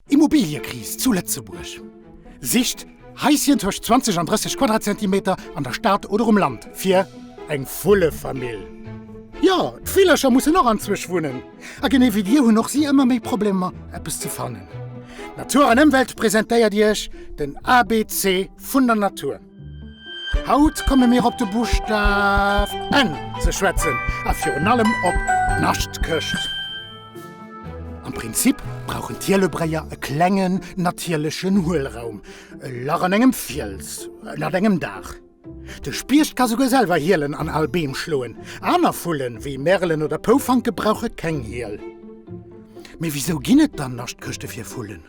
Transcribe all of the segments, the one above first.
Immobiliëkris zu Lëtzebuerg, Sicht Haischen tëscht 20 an 30 Quadratzentimeter an der Stad oder um Land fir eng fulle Famill. Jo, d'Villercher mussen och anzwousch wunnen a genee wéi dir hunn och si ëmmer méi Problemer eppes ze fannen. Natur an Ëmwelt presentéiert iech den ABC vun der Natur. Haut komme mir op de Buschtaf N ze schwätzen a virun allem op d'Naschtkecht. Am Prinzip brauchen d'Hielebréier e klengen natierlechen Huelraum, e Lach an engem Fiels ënnert engem Daach. De Spiecht ka souguer selwer Hielen an al Beem schloen. Aner Vullen, wéi Merelen oder Poufanke brauche keng Hiel. Mee wisou ginn et dann Naschtkechte fir Vullen?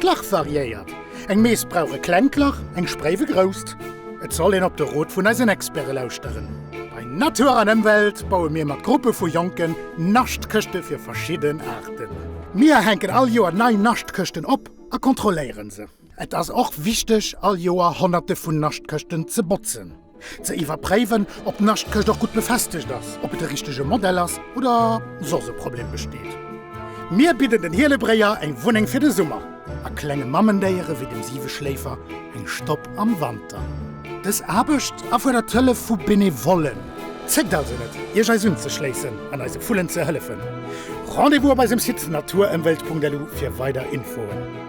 D'Lach variéiert, eng Mees brauch e klengt Lach, eng Spréif e grousst. Et soll een op de Rot vun eisen Experte lauschteren. Bei Natur an Ëmwelt baue mir mat Gruppe vu Jonken Naschtkëschte fir verschidden Aarten. Mir hänken all Joer nei Naschtkëschten op a kontrolléiere se. Et ass och wichteg all Joer honnerte vun Naschtkëschten ze botzen. Ze iwwerpréiwen, ob d'Naschtkëscht och gutt befestegt ass, ob et de richtege Modell ass oder soss e Problem besteet. Mir bidden den Hielebréier eng Wunneng fir de Summer a klenge Mammendéiere wéi dem Siweschléifer eng Stopp am Wanter. Dës Aarbecht erfuerdert d'Hëllef vu Benevollen. Zéckt also net, Iech eis unzeschléissen an eise Vullen ze hëllefen. Rendez-vous op eisem Site naturemwelt.lu fir weider Infoen.